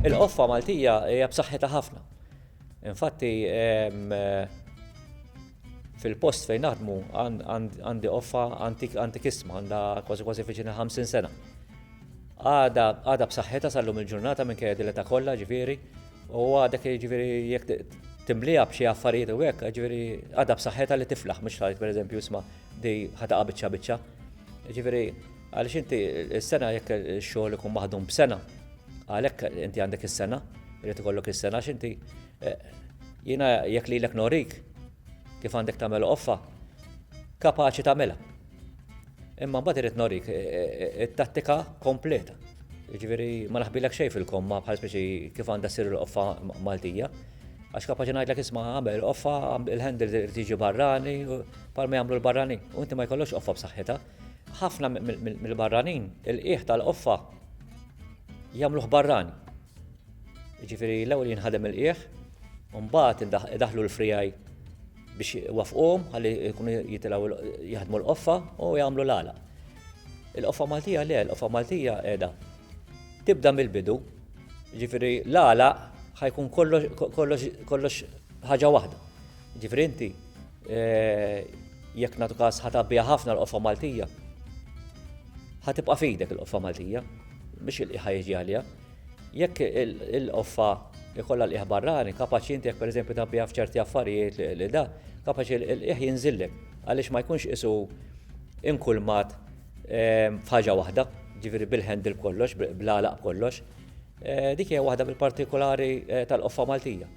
Il-qoffa Maltija hija b'saħħitha ħafna. Infatti, fil-post fejn naħdmu għandi qoffa antikisma, għandha kważi kważi fiċina 50 sena. Għada b'saħħitha sal-lum il-ġurnata minn kejja dileta kollha ġifieri, u għadek ġifieri jekk timlija b'xi affarijiet u hekk, ġifieri għada b'saħħitha li tiflaħ mhux tgħid pereżempju isma' di ħataqa' biċċa biċċa. Ġifieri Għaliex inti s-sena jekk ix-xogħol ikun maħdum b'sena, għalhekk inti għandek is-sena, irid ikollok is-sena għax inti jiena jekk lilek norik kif għandek tagħmel qoffa, kapaċi tagħmilha. Imma mbagħad irid norik it-tattika kompleta. Jiġifieri ma naħbilek xejn fil-komma bħal speċi kif għandha ssir il-qoffa Maltija. Għax kapaċi ngħidlek isma' għamel qoffa, il-handle irid jiġi barrani, bħalma jagħmlu l-barranin. U inti ma jkollokx qoffa b'saħħitha. Ħafna mill-barranin il-qiegħ tal-qoffa jagħmluh barrani. Jiġifieri l-ewwel jinħadem il-qiegħ, u mbagħad idaħlu l-frijaj biex wafqhom ħalli jkunu jitilgħu jaħdmu l-qoffa u jagħmlu l-għala. Il-qoffa Maltija le, l-qoffa Maltija qiegħda tibda mill-bidu, jiġifieri l-għala ħajkun kollox ħaġa waħda. Jiġifieri inti Jekk nagħtu każ ħa tabbiha ħafna l-qoffa Maltija. Ħa tibqa' fidek il-qoffa Maltija biex il-qiegħ jiġi għaliha. Jekk il-qoffa ikollha l-qiegħ barrani, kapaċi inti jekk pereżempju tabbiha f'ċerti affarijiet li da, kapaċi l-qiegħ jinżillek għaliex ma jkunx qisu inkulmat ehm, f'ħaġa waħda, ġifieri bil-handle kollox, bl-għalaq kollox. Eh, dik hija waħda mill-partikolari eh, tal-qoffa Maltija.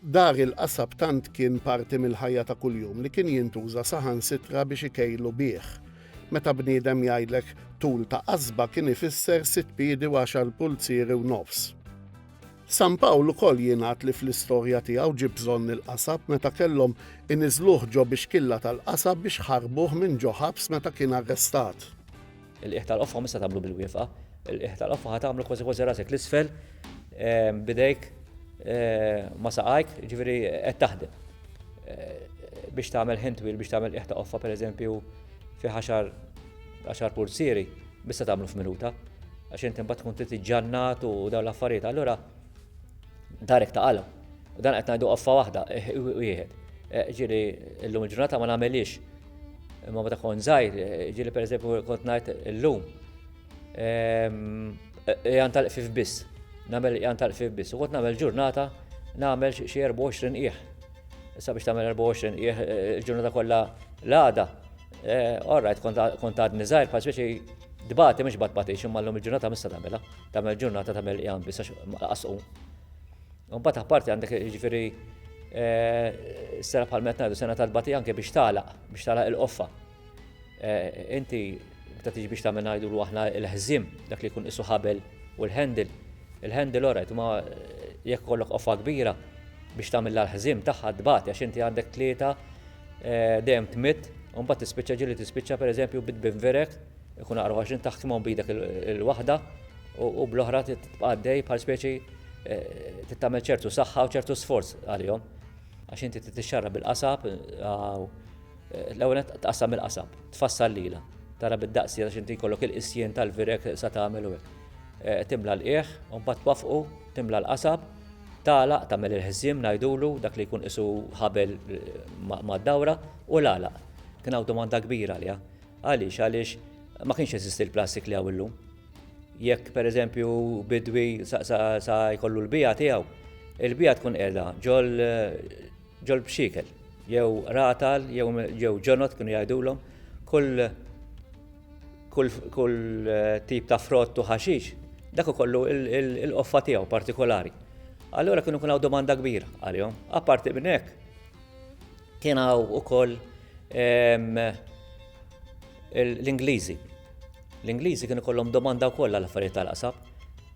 Dar il-qasab tant kien parti mill-ħajja ta' kuljum li kien jintuża saħansitra biex ikejlu bih. Meta bniedem jgħidlek tul ta' qasba kien ifisser sitt piedi u għaxar pulzieri u nofs. San Pawl ukoll jingħad li fl-istorja tiegħu ġie bżonn il-qasab meta kellhom iniżżluh ġo bixkilla tal-qasab biex ħarbuh minn ġo ħabs meta kien arrestat. Il-qiegħ tal-qoffa mhux se tagħmlu bil-wieqfa, il-qiegħ tal-qoffa ħa tagħmlu kważi kważi rasek 'l isfel b'idejk ma' saqajk, jiġifieri qed taħdem. Biex tagħmel ħin twil biex tagħmel qiegħ ta' qoffa pereżempju fi għaxar għaxar pulzieri mhux se tagħmlu f'minuta għax int imbagħad tkun trid iġġannat u dawn l-affarijiet. Allura darek ta' qalb. Dan qed ngħidu qoffa waħda, wieħed. Ġieli llum il-ġurnata ma nagħmelix Imma meta kont żgħir, ġieli pereżempju kont ngħid illum ehm, qiegħan tal-qfif biss, nagħmel qiegħan tal-qfif biss. U kont nagħmel ġurnata nagħmel xi 24 qiegħ. Issa biex tagħmel 24 qiegħ eh, il-ġurnata kollha l-għada. Eh, all right, kont għadni żgħir bħal speċi dbati mhux bat batix imma llum il-ġurnata mista tagħmilha. Tagħmel ġurnata tagħmel qiegħan biss għax qasqu. Mbagħad apparti għandek jiġifieri eh, sena bħal meta ngħidu sena tal-bati anke biex tagħlaq, biex tagħlaq il-qoffa. Eh, inti meta tiġi biex tagħmel ngħidu aħna l-ħżim dak li jkun isu ħabel u l-handle. Il-handle orajt ma eh, jekk kollok qoffa kbira biex tagħmel l-ħżim tagħha tbati għax inti għandek tlieta dejjem tmitt u mbagħad tispiċċa ġieli tispiċċa pereżempju bit binverek Ikun aqrab għax int taħkimhom b'idek il-waħda u bl-oħra tibqa' għaddej bħal speċi eh, tittamel ċertu saħħa u ċertu sforz għalihom. Għax inti tixxarra bil-qasab, eh, l-ewwel tqassam il-qasab, tfassal lila, tara bid-daqsi għax inti jkollok il-qisjien tal-virek sa tagħmel u eh, timla l-qieħ, u mbagħad twafqu, timla l-qasab, tagħlaq tagħmel il-ħżiem ngħidulu dak li jkun isu ħabel mad-dawra u l-għalaq. Kien hawn domanda kbira għaliha. Għaliex? Għaliex ma kienx jeżisti l-plastik li hawn illum. Jekk pereżempju bidwi sa jkollu l-bija tiegħu, il-bija tkun qiegħda ġol ġol bxikel, jew ratal, jew ġonot kienu jgħidulhom, kull kull eh, tip ta' frott u ħaxix, dak ukollu il-qoffa tiegħu partikolari. Allura kienu kun domanda kbira għalihom. Apparti minn hekk, Kien hawn ukoll l-Ingliżi. L-Ingliżi kienu kollhom domanda wkoll għal affarijiet tal-qasab.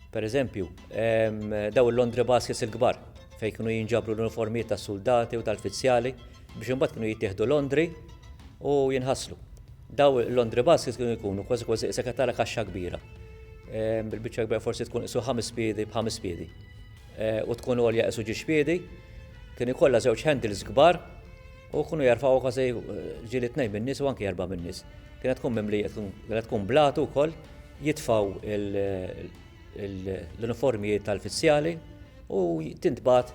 Per eżempju, daw il-Londri Baskets il-kbar fejn kienu jinġabru l-uniformijiet tas-suldati u tal-fizzjali biex imbagħad kienu jittieħdu Londri u jinħaslu. Daw il-Londri Baskets kienu jkunu kważi kważi qisek tara kaxxa kbira. Bil-biċċa kbira forsi tkun qisu ħames piedi b'ħames piedi. u tkun għolja qisu ġiex piedi, kien ikollha żewġ handles kbar u kienu jarfgħu kważi ġieli tnejn min-nies u anki erba' min-nies. Kienet tkun mimlija, kienet tkun blatu wkoll, jitfgħu l-uniformijiet tal-fizzjali u tintbagħat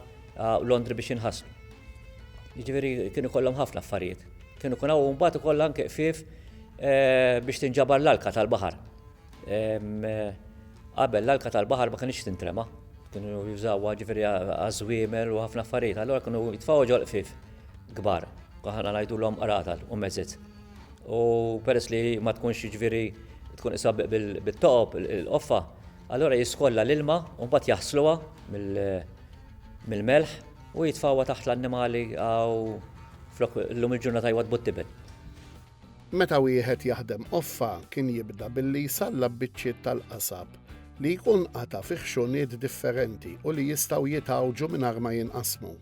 Londri biex jinħaslu. Jiġifieri kien ikollhom ħafna affarijiet. Kien ikun hawn mbagħad ukoll anke qfief biex tinġabar l-alka tal-baħar. Qabel l-alka tal-baħar ma kienx tintrema, kienu jużawha ġifieri għaż-żwiemel u ħafna affarijiet, allura kienu jitfgħu ġol qfif kbar, aħna ngħidulhom qratal u mezzit. U peress li ma tkunx ġifieri tkun isha bit-toqob il-qoffa, allura jiskolla l-ilma u mbagħad jaħsluha mill-melħ u jitfgħuha taħt l-annimali hawn flok illum il-ġurnata jwaddbu t-tiben. Meta wieħed jaħdem qoffa kien jibda billi jsallab biċċiet tal-qasab li jkun qata' fi ħxuniet differenti u li jistgħu jitgħawġu mingħajr ma jinqasmu.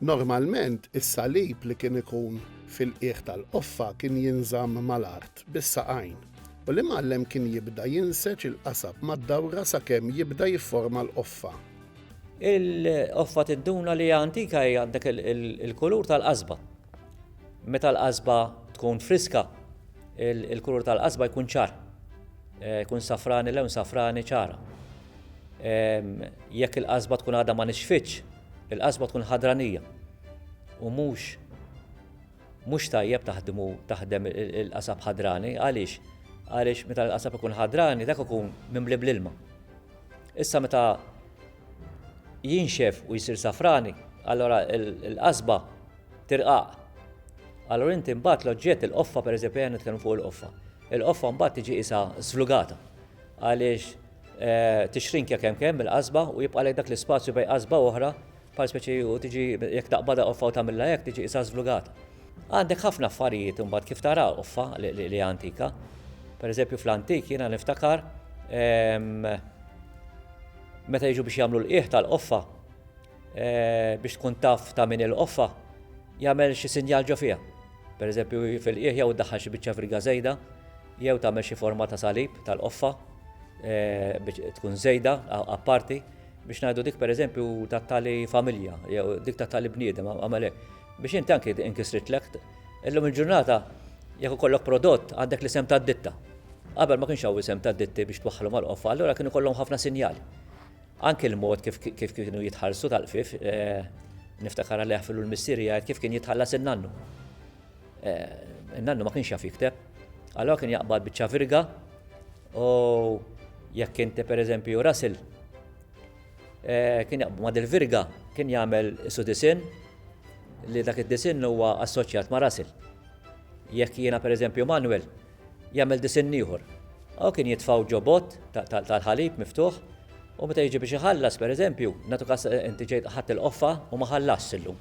Normalment is-salib li kien ikun fil-qiegħ tal-qoffa kien jinżamm mal-art bis-saqajn u l-imgħallem kien jibda jinseġ il-qasab mad-dawra sakemm jibda jifforma l-qoffa. Il-qoffa tidduna li hija antika hija għandek il-kulur tal-qasba. Meta l-qasba tkun friska, il-kulur tal-qasba jkun ċar, jkun safrani lewn safrani ċara. Jekk il-qasba tkun għadha ma nixfitx, il-qasba tkun ħadranija u mhux mhux tajjeb taħdmu taħdem il-qasab ħadrani għaliex għaliex meta l-qasab ikun ħadrani dak ikun mimli bl-ilma. Issa meta jinxef u jsir safrani, allora il-qasba Tirqaq. Allura inti mbagħad l-oġġett il-qoffa pereżempju ejja nitkellmu fuq il-qoffa. Il-qoffa mbagħad tiġi qisha żlugata għaliex tixrinkja kemm kemm il-qasba u jibqalek dak l-ispazju bejn qasba oħra bħal speċi u tiġi jekk taqbadha qoffa u tagħmilha hekk tiġi qisha żlugata. Għandek ħafna affarijiet imbagħad kif tara qoffa li hija antika. Pereżempju fl-antik jiena niftakar meta jiġu biex jagħmlu l-qiegħ tal-qoffa biex tkun taf ta' min il-qoffa, jagħmel xi sinjal ġo fiha, pereżempju fil-qiegħ jew iddaħħal xi biċċa friga żejda, jew tagħmel xi forma ta' salib tal-qoffa biex tkun żejda apparti, biex ngħidu dik pereżempju ta' tali familja jew dik ta' tali bniedem għamel hekk. Biex inti anki inkisritlek. Illum il-ġurnata jekk ikollok prodott għandek l-isem tad-ditta. Qabel ma kienx hawn isem tad-ditti biex twaħħalhom għall-qoffa, allura kien ikollhom ħafna sinjali. Anki l-mod kif kienu jitħallsu tal-qfif, niftakar għalih fillu l-missieri jgħid kif kien jitħallas in-nannu. In-nannu ma kienx jaf jikteb, allora kien jaqbad biċċa virga u jekk inti pereżempju rasil, kien jaqbad il-virga kien jagħmel isu disinn li dak id-disinn huwa assoċjat ma' rasil. Jekk jiena pereżempju Manwel, Jagħmel disinn ieħor. Hawn kien jitfgħu ġo bott tal-ħalib miftuħ u meta jiġi biex iħallas, pereżempju, nagħtu każ inti ġejt ħadt il-qoffa u ma ħallasx illum.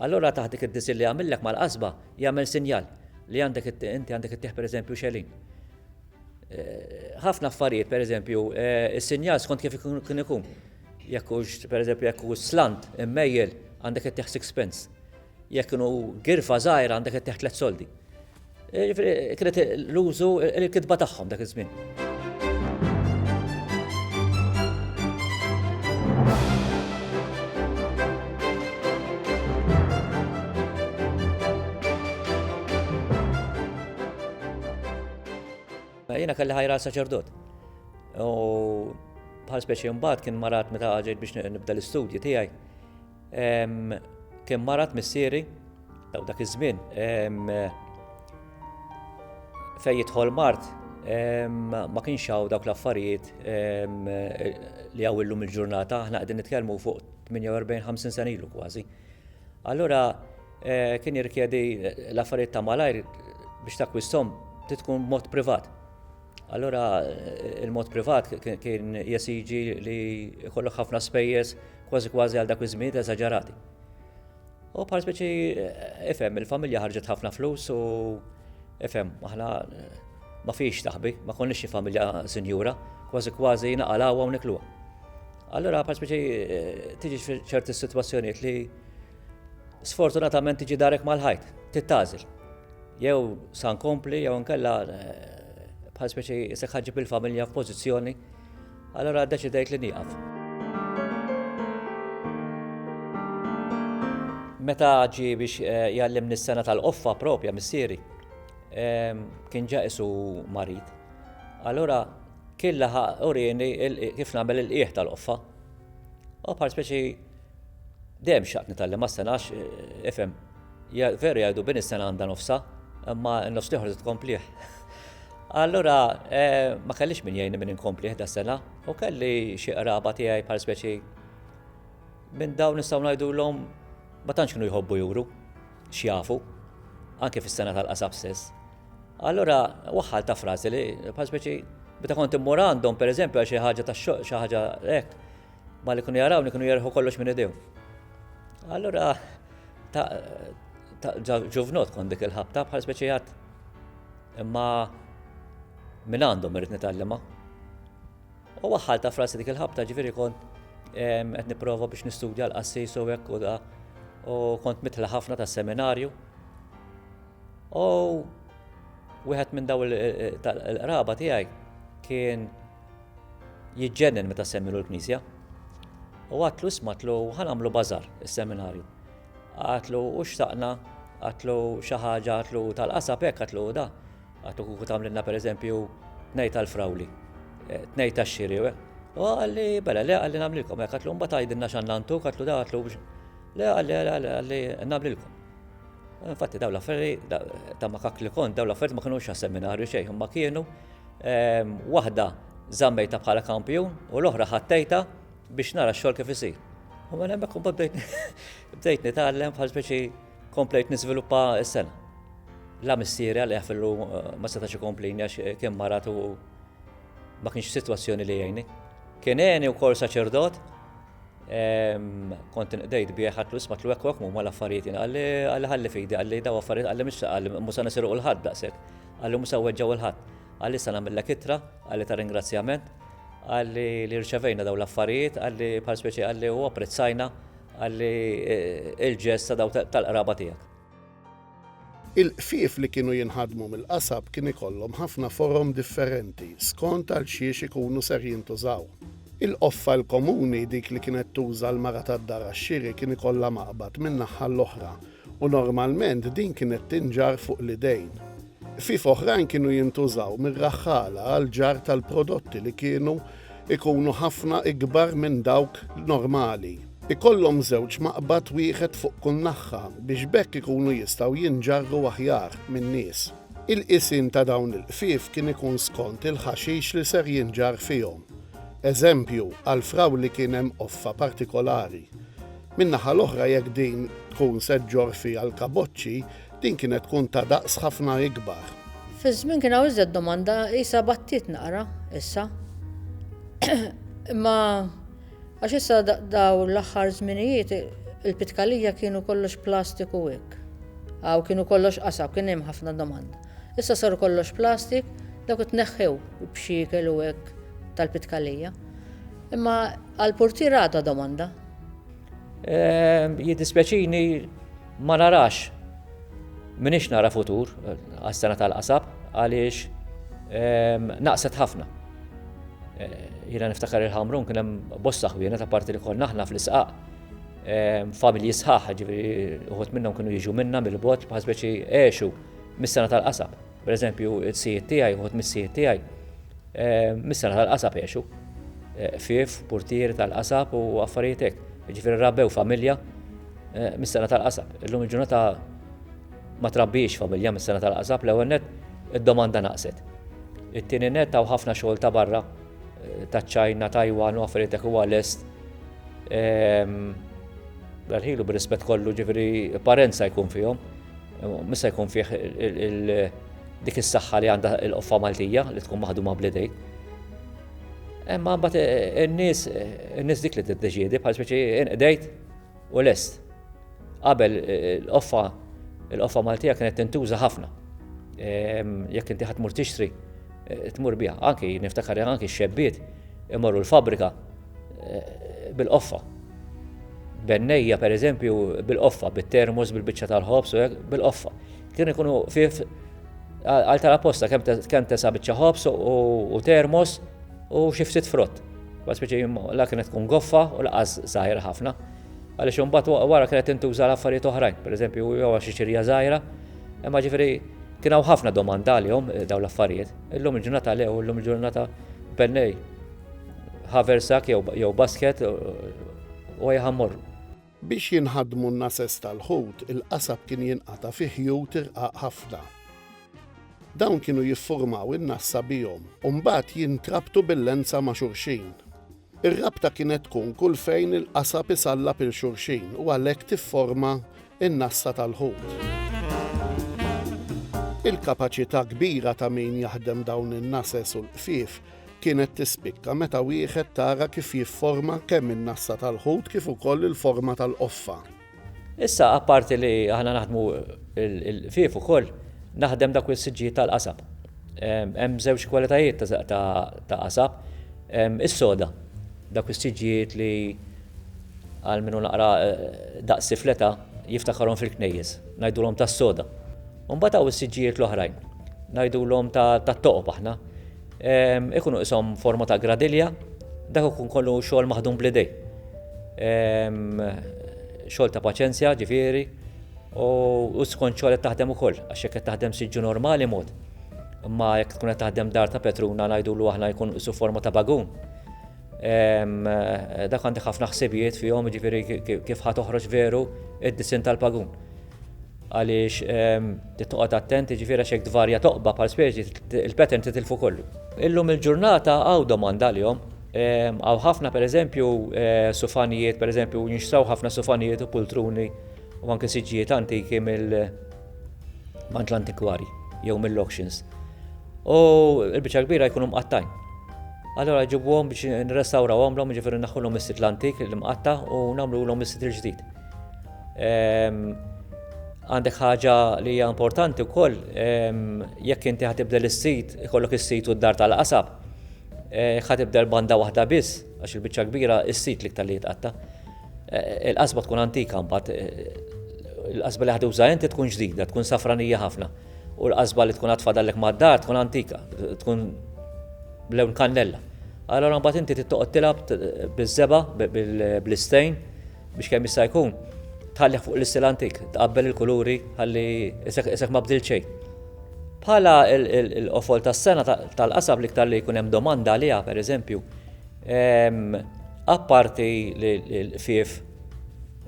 Allura taħt dik id-disinn li jagħmillek mal-qasba jagħmel sinjal li għandek inti għandek ittieħ pereżempju xelin. Ħafna affarijiet pereżempju is-sinjal skont kif kien ikun. Jekk hux pereżempju jekk hu slant immejjel għandek ittieħ sixpence. Jekk kienu girfa żgħira għandek ittieħ tliet soldi. Jiġifieri kienet l-użu il-kitba tagħhom dak iż-żmien. Jiena kelli ħajra saċerdot. U bħal speċi mbagħad kien marat meta ġejt biex nibda l-istudji tiegħi. Kien marat missieri daw dak iż-żmien fejn jidħol mart ma kienx hawn dawk l-affarijiet li hawn illum il-ġurnata, aħna qegħdin nitkellmu fuq 48-50 sena ilu kważi. Allura eh, kien jirkjedi l-affarijiet ta' malajr biex takkwistom titkun mod privat. Allura il-mod privat kien jesiġi li jkollok ħafna spejjeż kważi kważi għal dak iż-żmien eżaġerati. U bħal speċi ifhem il-familja ħarġet ħafna flus u ifhem aħna ma fiex taħbi, ma konniex xi familja sinjura, kważi kważi naqalawha u nikluha. Allura bħal speċi tiġi ċerti sitwazzjonijiet li Sfortunatament tiġi darek mal-ħajt, tittagħżel. Jew sa nkompli jew nkella eh, bħal speċi isek ħaġib il-familja f'pożizzjoni, allora deċidejt li nieqaf. Meta ġi biex eh, jallimni s-sena tal-qoffa propja missieri, ehm, kien ġa isu marid. Allora kien laħaq urini kif nagħmel il-qieħ tal-qoffa. U bħal speċi Dejjem xtaqt nitgħallem għas-sengħa għax, ifhem, veru jgħidu bin is-sengħa għandha nofsha, imma n-nofs l-ieħor trid tkomplih. Allura ma kellix min jgħinni min inkomplih da sengħa u kelli xi qraba tiegħi bħal speċi minn dawn nistgħu ngħidulhom ma tantx kienu jħobbu juru x'jafu anke fis-sena tal-qasab stess. Allura waħħal ta' frażi li bħal speċi meta kont immur għandhom pereżempju għal xi ħaġa ta' xi ħaġa hekk Ma li kienu jarawni kienu jerħu kollox minn idejhom. Allura ta' ġuvnot kon dik il-ħabta bħal speċijat imma minn għandhom irrid nitgħallima. U waħħal ta' frasi dik il-ħabta ġifieri kon qed nipprova biex nistudja l-qassis u hekk u da u kont mitla ħafna tas seminarju. U wieħed minn daw il-qraba tiegħi kien Jiġġennen meta semmilu l-knisja. U għatlu smatlu ħanamlu bazar is-seminarju. Għatlu u xtaqna, għatlu xi ħaġa, għatlu tal-qasab hekk għatlu da. Għatlu kuku tagħmlilna pereżempju tnejn tal-frawli, eh, tnejn tax-xiri. Eh. U għalli, bella, le għalli nagħmlilkom hekk, għatlu mbagħad għajdilna x'għandna għatlu da għatlu biex. Le għalli, għalli, għalli nagħmlilkom. Infatti daw l-affari ta' ma kakli kont, daw l-affari ma kienu xa seminarju xejn, ma kienu Waħda żammejtha bħala kampjun u l-oħra ħattejta biex nara x-xogħol kif isir. U mela hemmhekk u bdejt bdejt nitgħallem bħal speċi komplejt niżviluppa s-sena. La missieri għal fillu eh, ma setax ikomplini għax eh, kien marat u ma kienx situazzjoni li jgħini. Kien għeni u kol saċerdot, kont nqdejt bieħ għatlu isma tlu ekk mu mal-affarijiet għalli għalli fidi għalli daw affarijiet għalli mux għalli musa nisiru u l-ħadda sekk. Qalli mhux se nweġġa' lil ħadd. Qalli se nagħmillek ittra, qalli ta' ringrazzjament, qalli li rċevejna dawn l-affarijiet, qalli bħal speċi qalli u apprezzajna, qalli il-ġest ta' dawk tal-qraba tiegħek. Il-qfief li kienu jinħadmu mill-qasab kien ikollhom ħafna forom differenti skont għal xiex ikunu ser jintużaw. Il-qoffa l-komuni, dik li kienet tuża l-mara tad-dar għax-xiri kien ikollha maqbad min-naħħa l-oħra u normalment din kienet tinġarr fuq l-idejn. Ħfief oħrajn kienu jintużaw mir-raħħala għall-ġarr tal-prodotti li kienu jkunu ħafna ikbar minn dawk normali. Ikollhom żewġ maqbad wieħed fuq kull naħħa biex b'hekk ikunu jistgħu jinġarru aħjar min-nies. Il-qisien ta' dawn il-ħfief kien ikun skont il-ħaxix li ser jinġarr fihom. Eżempju, għall-frawli kien hemm qoffa partikolari. Min-naħa l-oħra jekk din tkun se ġġorr fiha l-kaboċċi, din kienet tkun ta' daqs ħafna ikbar. Fiż-żmien kien hawn iżjed domanda, qisha battiet naqra issa. Imma għax issa dawn l-aħħar żminijiet il-pitkalija kienu kollox plastik u hekk. Hawn kienu kollox qasab, kien hemm ħafna domanda. Issa saru kollox plastik, dawk it-tneħħew b'xiekel u hekk tal-pitkalija. Imma Għall-purtier għadha domanda? Ehm, jiddispjaċini ma narax minix nara futur għas-sena tal-qasab għaliex ehm, naqset ħafna. Eh, Jina niftakar il-ħamrun kien hemm bosta ħwiena ta' parti li konna aħna fl-isqaq ehm, familji sħaħ, ġifieri uħut minnhom kienu jiġu minna mill-bot bħal speċi għexu mis-sena tal-qasab. Per eżempju, it-sijiet tiegħi, uħut mis-sijiet tiegħi, eh, mis-sena tal-qasab jgħixu. Eh, fif, portier tal-qasab u affarijiet hekk. Ġifieri rabbew familja eh, mis-sena tal-qasab. Illum il-ġurnata ma trabbiex familja mis-sena tal-qasab l-ewwel net id-domanda naqset. It-tieni net taw ħafna xogħol ta' barra eh, ta' ċajna, Tajwan u affarijiet hekk huwa lest. Ehm, L-ħilu bir-rispett kollu ġifieri parenza jkun fihom. Mhux se jkun fih dik is-saħħa li għandha l-qoffa Maltija li tkun maħduma bl-idejk. Imma mbagħad eh, eh, in-nies in-nies dik li tiddeċiedi bħal speċi inqdejt u lest. Qabel eh, l-qoffa l-qoffa Maltija kienet tintuża ħafna. Ehm, jekk inti ħadd mur tixtri, tmur biha. Anki niftakar anki x-xebbiet imorru l-fabrika bil-qoffa. Bennejja, per eżempju, bil-qoffa, bit-termos, bil-bicċa tal-ħobs, bil-qoffa. Kienu jkunu fif għal tal-apposta kemm tesa bicċa ħobs u termos u xiftit frott. Bat speċi la kienet tkun goffa u laqas zaħira ħafna. Għalix un wara kienet intuża l-affarijiet oħrajn, per eżempju, jew xi xirja zaħira, imma ġifiri Kien hawn ħafna domanda għalihom eh, dawn l-affarijiet. Illum il-ġurnata lew, illum il-ġurnata bennej. haversack jew basket u ajja ħa mmorru. Biex jinħadmu n-nases tal-ħut, il-qasab kien jinqata' fi ħjut irqaq ħafna. Dawn kienu jiffurmaw in-nassa bihom u mbagħad jintrabtu bil-lenza ma' xulxin. Ir-rabta kienet tkun kull fejn il-qasab isallab 'il xulxin u għalhekk tifforma n-nassa tal-ħut. Il-kapaċità kbira ta' min jaħdem dawn in-nases u l-qfief kienet tispikka meta wieħed tara kif jifforma kemm in-nassa tal-ħut kif ukoll il-forma tal-qoffa. Issa apparti li aħna naħdmu l-ħfief ukoll naħdem dawk is-siġġijiet tal-qasab. Hemm żewġ kwalitajiet ta' qasab. Is-soda, dawk is-siġġijiet li għal min hu naqra daqsi fl-età jiftakarhom fil-knejjes, ngħidulhom tas-soda. U mbagħad hawn is-siġġijiet l-oħrajn, ngħidulhom tat-toqob aħna. Ikunu qishom forma ta' gradilja, dak ikun kollu xogħol maħdum bl-idej. Xogħol ta' paċenzja, ġifieri, u skont xogħol qed taħdem ukoll, għax jekk qed taħdem siġġu normali mod, imma jekk tkun qed taħdem dar ta' Petruna ngħidulu aħna jkun qisu forma ta' bagun. Dak għandek ħafna ħsibijiet fihom, jiġifieri kif ħa toħroġ veru d-disinn tal-bagun. Għaliex trid toqgħod attent, jiġifieri għax jekk tvarja toqba bħal speċi, il-pattern titilfu kollu. Illum il-ġurnata hawn domanda għalihom. Hawn ħafna pereżempju sufanijiet, pereżempju jinxtraw ħafna sufanijiet u pultruni u anke siġġijiet antiki mill għand l-antikwarji jew mill-auctions. U l-biċċa kbira jkunu mqattgħin. Allura ġibuhom biex nirrestawrawhomlhom, jiġifieri naħħulhom is-sitl antik, l-imqatta' u nagħmlulhom is-sitl ġdid. Għandek ħaġa li hija importanti wkoll jekk inti ħatibdel is-sit, ikollok is-sit u d-dar tal-qasab. Eh, ħatibdel banda waħda biss, għax il-biċċa kbira is-sit li ktar li jitqatta. Eh, il-qasba tkun antika mbagħad, eh, il-qasba li ħad uża inti tkun ġdida, tkun safranija ħafna. U l-qasba li tkun għatfadallek mad-dar tkun antika, tkun lewn kannella. Allora mbagħad inti tittoqgħod tilab biż-żeba, bl-istejn, biex kemm jista' jkun tħallih fuq l-istil antik, tqabbel il-kuluri ħalli isek ma bdil xejn. Bħala l-qofol tas-sena tal-qasab liktar li jkun hemm domanda għaliha pereżempju, ehm, apparti li l-qfief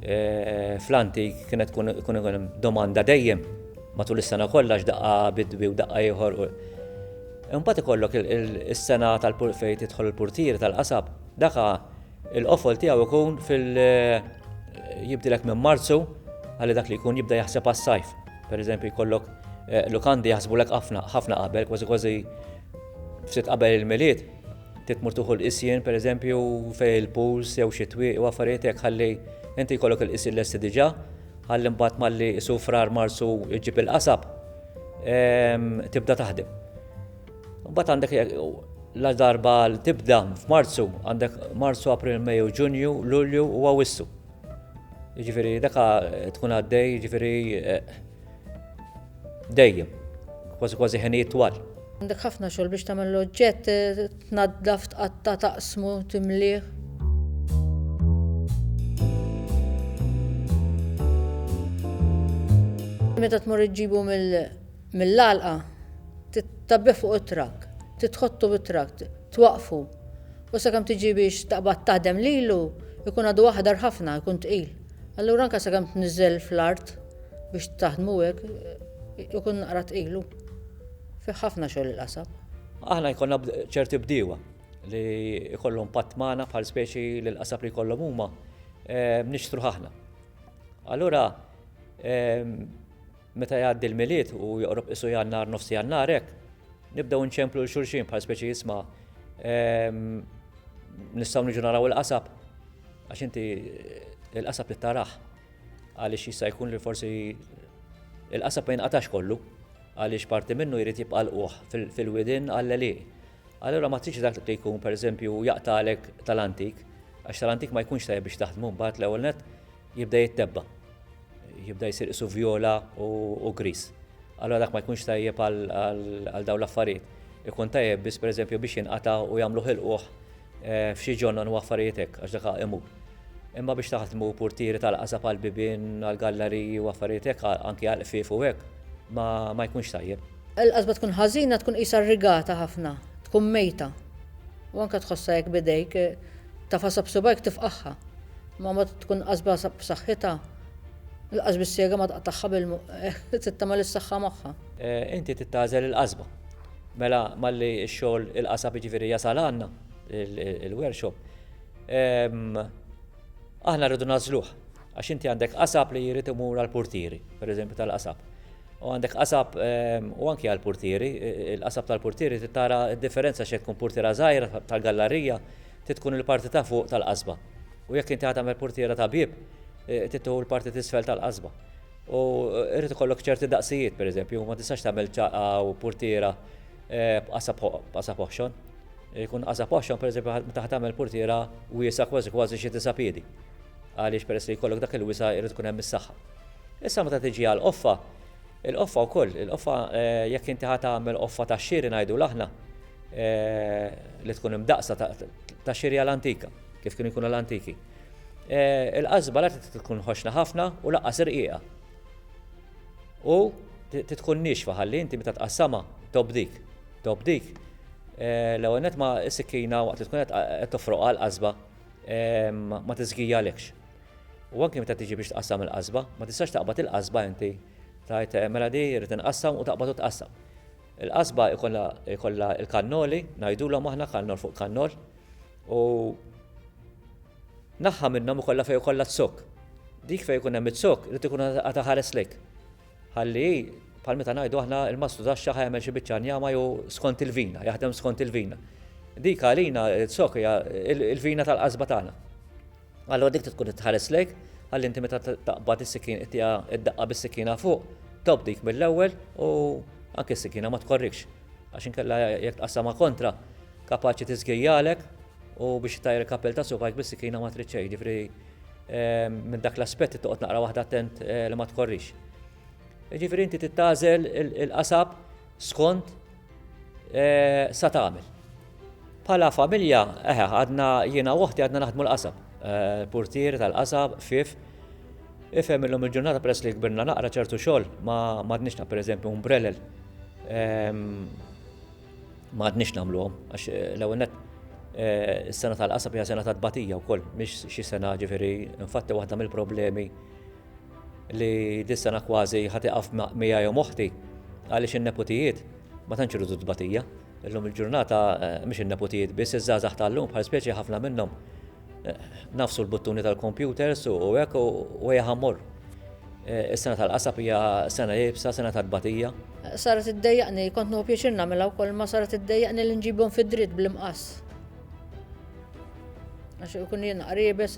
eh, fl-antik kienet tkun hemm domanda dejjem matul is-sena kollha x'daqqa bidwi u daqqa ieħor. Imbagħad ikollok is-sena tal-purfejt idħol il-purtieri tal-qasab, daka Il-qofol tiegħu jkun fil jibdilek minn Marzu għal dak li jkun jibda jaħseb għas-sajf. Pereżempju jkollok eh, lukandi jaħsbulek ħafna ħafna qabel, kważi kważi ftit qabel il-milied, titmur tuħu l-qisien pereżempju fej il-puls jew xi twieq u affarijiet hekk ħalli inti jkollok il-qisien lesti diġà, ħalli mbagħad malli isufrar marsu jġib il-qasab ehm, tibda taħdem. Mbagħad għandek la darba għal tibda f'Marzu, għandek Marzu, April, Mejju, Ġunju, Lulju u Awwissu. Ġifieri daka tkun għaddej, ġifieri eh, dejjem, kważi kważi ħenijiet twal. Għandek ħafna xogħol biex tagħmel l-oġġett, eh, tnaddaf, tqatta, taqsmu, timlih. Meta tmur iġġibu mill mill-għalqa, titgħabbih fuq it-trakk, titħottu bit-trakk, twaqqfu, u sakemm tiġi biex taqbad taħdem lilu, jkun għadu aħdar ħafna, jkun tqil. Allura anke sakemm tniżżel fl-art biex taħdmu hekk, ikun naqra tqil hu. Fih ħafna xogħol il-qasab. Aħna jkollna ċerti bdiewa li jkollhom patt magħna bħal speċi li l-qasab li jkollhom huma nixtruh aħna. Allura Meta jgħaddi l-Milied u joqrob qisu Jannar, nofs Jannar hekk, nibdew inċemplu lil xulxin bħal speċi isma' nistgħu niġu naraw il-qasab għax inti il-qasab trid tarah għaliex jista' jkun li forsi il-qasab ma jinqatax kollu għaliex parti minnu jrid jibqa' l-qoħ fil-widin għall-għelieq. Allura ma tridx dak li jkun pereżempju jaqtalek tal-antik għax tal-antik ma jkunx tajjeb biex taħdmu mbagħad l-ewwel nett Jibda jittebba. Jibda jsir qisu vjola u griż. Allura dak ma jkunx tajjeb għal dawn l-affarijiet. Ikun tajjeb biss pereżempju biex jinqata' u jagħmlu ħilquh f'xi ġonnon u affarijiet hekk għax dak imur. Imma biex taħdmu purtieri tal-qasab għall-bibien, għall-gallariji u affarijiet hekk, anki għall-qfief u hekk, ma jkunx tajjeb. Il-qasba tkun ħażina tkun qisha rrigata ħafna, tkun mejta. U anke tħossha hekk b'idejk, tafasha b'subgħajk tifqagħha. Ma ma tkun qasba b'saħħitha, il-qasba s-sega ma taqtagħha bil trid tagħmel is-saħħa magħha. Inti trid tagħżel il-qasba. Mela malli x-xogħol il-qasab jiġifieri jasal għandna, il-workshop, aħna rridu nagħżluh. Għax inti għandek qasab li jrid imur għall-purtieri, pereżempju tal-qasab. U għandek qasab u anki għall-purtieri, il-qasab tal-purtieri trid tara d-differenza x'hekk tkun purtiera żgħira tal-gallarija Trid tkun il-parti ta' fuq tal-qasba. U jekk inti ħa tagħmel purtiera ta' bieb, trid tieħu l-parti t'isfel tal-qasba. U jrid ikollok ċerti daqsijiet, pereżempju, ma tistax tagħmel ċaqqa u purtiera b'qasab oħxon. Ikun qasab oħxon, pereżempju, meta ħa tagħmel purtiera wiesgħa kważi kważi xi disa' piedi. Għaliex peress li jkollok dak il-wisa' jrid ikun hemm is-saħħa. Issa meta tiġi għall-qoffa, il-qoffa wkoll, il-qoffa jekk inti ħa tagħmel qoffa tax-xiri ngħidulha aħna, li tkun imdaqsa ta' xiri għal antika, kif kienu jkunu l-antiki. Il-qasba la tkun ħoxna ħafna u laqqas irqiqa. U tkun nixfa ħalli inti meta tqassama tobdik. Tobdik l-ewwel net ma s-sikkina waqt li tkun qed tofroq għal qasba ma tiżgijalekx. U anke meta tiġi biex tqassam il-qasba, ma tistax taqbad il-qasba inti tajt mela di rrid inqassam u taqbad u tqassam. Il-qasba jkollha l-kannoli, ngħidulhom aħna kannol fuq kannol, u naħa minnhom ikollha fejn ikollha t-zokk. Dik fejn ikun hemm iz-zokk irid ikun qed iħares lejk. Ħalli hi, bħal meta ngħidu aħna l-mastru tax-xagħar ħa jagħmel xi biċċa njama jew skont il-vina, jaħdem skont il-vina. Dik għalina, iz-zokk hija l-vina tal-qasba tagħna. Allura dik trid tkun qed tħares lejk, ħalli inti meta taqbad is-sikkina ittiha d-daqqa bis-sikkina fuq, tobd dik mill-ewwel u anke s-sikkina ma tkorrikx. Għax inkella jekk tqassamha kontra, kapaċi tiżgejjalek u biex ittajjar il-kappell ta' subgħajk bis-sikkina ma trid xejn, jiġifieri minn dak l-aspett trid toqgħod naqra waħda attent li ma tkorrix. Jiġifieri inti trid tagħżel il-qasab skont sa tagħmel. Bħala familja, eħe, għadna jiena u oħti għadna naħdmu l-qasab. Eh, portieri tal-qasab, fif. Ifhem illum il-ġurnata peress li kbirna naqra ċertu xogħol ma m'għadniex naq pereżempju umbrellel. Ehm, ma għadniex nagħmluhom għax eh, l-ewwel net eh, is-sena tal-qasab hija sena ta' tbatija wkoll, mhix xi sena ġifieri infatti waħda mill-problemi li dis-sena kważi ħa tieqaf miegħi u moħti għaliex in-neputijiet ma tantx iridu tbatija. Illum il-ġurnata eh, mhix in-neputijiet biss iż-żgħażagħ tal-lum bħal speċi ħafna minnhom eh, nafsu l-buttuni tal-kompjuters u hekk u hija ħammor. Eh, is-sena tal-qasab hija sena jibsa, sena tal-batija. Saret iddejjaqni, kont nuhu pjaċir nagħmilha wkoll ma saret iddejjaqni li nġibhom fid-dritt bl-imqas. Għax ikun jien qribes,